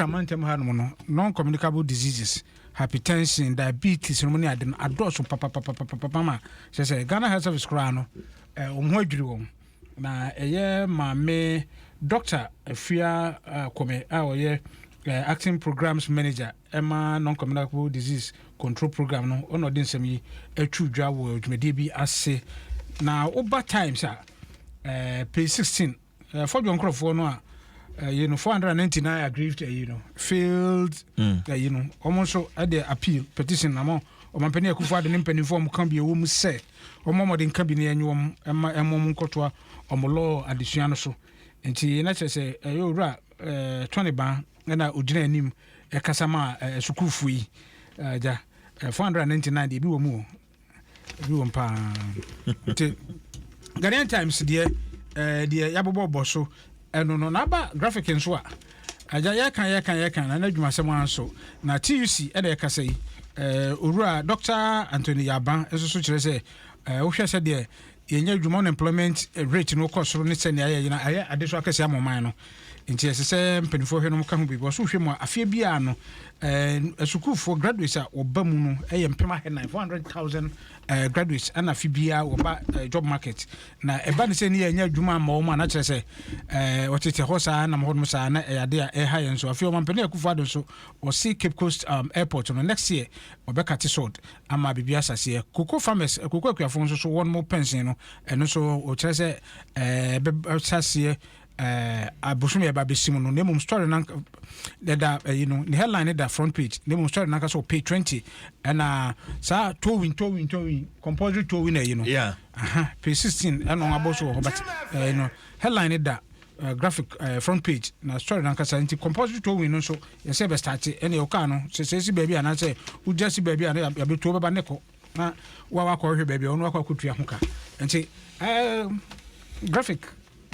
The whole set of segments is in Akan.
Amantam ha nom no non communicable diseases, hypertension, diabetes nom ne ade no adɔɔso papapapapapa ma kyerɛ sɛ Ghana Health Service koraa no eh, wɔn ho adwiri wɔn na ɛyɛ maame Dr. Afia eh, Kome a ɔyɛ eh, acting programs manager ɛma non communicable disease control program no ɔna ɔde nsɛm yi atwi dwa wɔ dwumadie bi ase na woba times a eh, page 16 uh, fɔ dwɔ nkorɔfoɔ no a ɛyi no 499 aggrieved ɛyi no failed ɛyi no wɔn nso ɛde appeal petition na mo ɔmampanin akufo ade ne mpanimfoɔ wɔn ka bi ɛwɔ mu sɛ wɔn ɔmɔden nka bi ne ɛnyi wɔn ɛma ɛmo wɔn nkɔtoa wɔn lɔɔ adesua no so nti na kyerɛ sɛ ɛyɛ owura ɛɛ tɔne ban ɛna ogyina anim ɛkasa ma ɛɛ sukuufo yi ɛgya 499 deɛ ebi wɔ mu o ebi wɔm paa nti Ghanaian Times deɛ ɛɛ deɛ yabobɔ bɔ so ɛno no n'aba graphic nso a agya yɛka yɛka yɛka na n'adwumasɛm anso na TUC ɛna ɛkasa yi ɛɛ owura Dr. Anthony Yaban nso so kyerɛ sɛ ɛɛ wohwɛ sɛ deɛ yɛnya adwuma unemployment rate no kɔ soro ne sɛnea ayɛ yɛn ayɛ ade so akɛse ama ɔman no nti ɛsɛ sɛ mpanimfoɔ hwɛ no ka ho biribi ɔso hwɛ mu a afeɛ biara no ɛɛ sukuufoɔ graduates a wɔba mu no ɛyɛ mpem ahɛ nine four hundred thousand ɛɛ graduates ɛna afe biara wɔba ɛɛ job market na ɛba ne sɛ ne yɛnya adwuma ama wɔn a na kyerɛ sɛ ɛɛ wɔtete hɔ saa nam hɔ nom saa na ɛyɛ ade a ɛha yɛn so afei wɔn mpɛnɛ akufo ado nso wɔsi cape coast um, airport no next year wɔbɛka te sɔɔd ama biribi asaseɛ koko farmers koko eh, akuafoɔ nso so wɔn mo pɛnsen no ɛno nso ɔkyerɛ sɛ ɛbɛsaseɛ eh, abosom yɛ ba bɛsi mu no na mmom story no ɛda ɛyi no ne headline no da front page na mmom story no ankasa wɔ page 20 ɛna saa towing towing towing compulsory towing ɛyi no yeah. aha page 16 ɛna wɔabɔ so wɔ hɔ but ɛyi no headline no da uh, graphic uh, front page na story no ankasa nti compulsory towing no nso yɛsɛ yɛbɛstate ɛne wo kaa no sɛ sɛ si baabi anaasɛ wogya si baabi a na yɛbɛtuo bɛba ne kɔ na woawakɔhwɛ baabi a ɔno wakɔ akɔtua ho ka nti um, graphic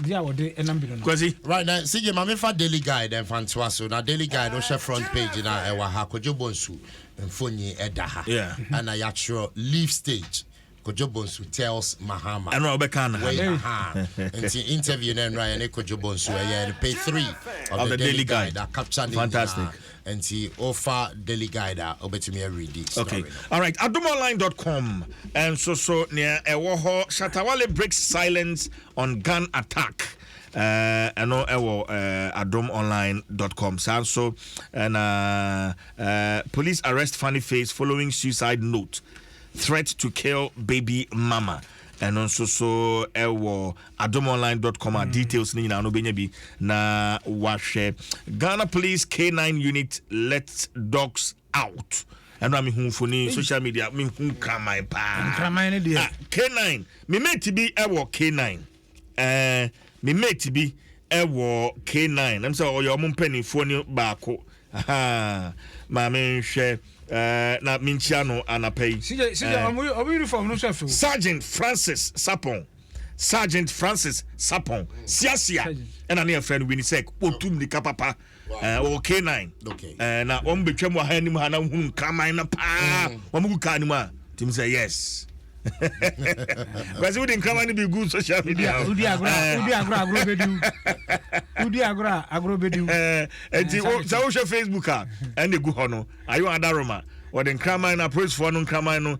di a wɔde ɛnam bi no no. kwasi right na sigye ma mefa daily guide ɛnfa ntoa so na daily guide wohyɛ front page na ɛwɔ ha kodwo bonsu mfonyi ɛda ha ɛna yɛatwerɛ leaf stage Kojo Bonsu tells Mahama. Ɛno a ɔbɛka na ha Wei, no. aha. Nti interview no ɛnora yɛne Kojo Bonsu ɛyɛ no page three of Of the Daily Guide. a capture ne Fantastic. nyinaa. Nti wofa Daily Guide a wobɛtumi areadi Okay. story no. All right. Adomonline.com. And so so near ɛwɔ hɔ Shatawale breaks silence on gun attack. Uh, ɛno ɛwɔ uh, adomonline.com. Saa nso ɛna uh, police arrest funny face following suicide note. Threat to kill baby mama ɛno nso so ɛwɔ adomonline.com a mm. details no nyinaa no bɛnya bi na wahwɛ ghana police k9 unit let dogs out ɛno a mehu mfoni social media mehu kraman paa ah, k9 memeti bi ɛwɔ k9 ɛɛ me mate bi ɛwɔ K9 nam sɛ ɔyɛ ɔmo mpanimfoɔ ne baako maame nhwɛ ɛɛ na menkyia no anapa yi. sijɛ sijɛ ɔmo ɔmo uniform no nso fɛ. Sergeant Francis Sapon Sergeant Francis Sapon siasia ɛna ne yɛfrɛ no Winisek otu mmirika papa. wɔwɔ canine na wɔn betwam wɔ ha anim ha na hunu nkraman no paa mm. wɔn gu kaa no mu a tim sɛ yes kwasi wodi nkraman no bi gu social media wodi agorɔ wodi agorɔ agorɔ bɛdiw wodi agorɔ agorɔ bɛdiw nti sɛ wohwɛ facebook a ɛna egu hɔ no ayo adaroma wɔde nkraman no apolisifoɔ no nkraman no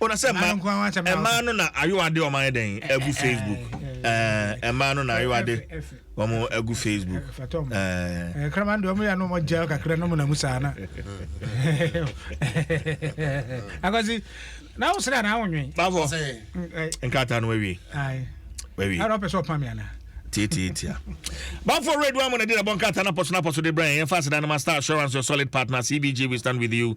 o na sɛ mmaa mmaa no na ayowade wɔn ayɛ dɛn agu facebook ɛɛ mmaa no na ayowade wɔn agu facebook ɛɛ kraman deɛ wɔn yɛ no wɔn gya kakra no mu na mu saa na akwasi na awo sere anaa awo nwi. bafo nkrataa no wawie wawie ɛna ɔpɛ sɛ ɔpa mi ana. tiatiatia bafo radio amu na di na bɔ nkrataa na pɔso na pɔso de brɛ yɛn yɛn fa aseda no ma star assurance your solid partner cbg we stand with you.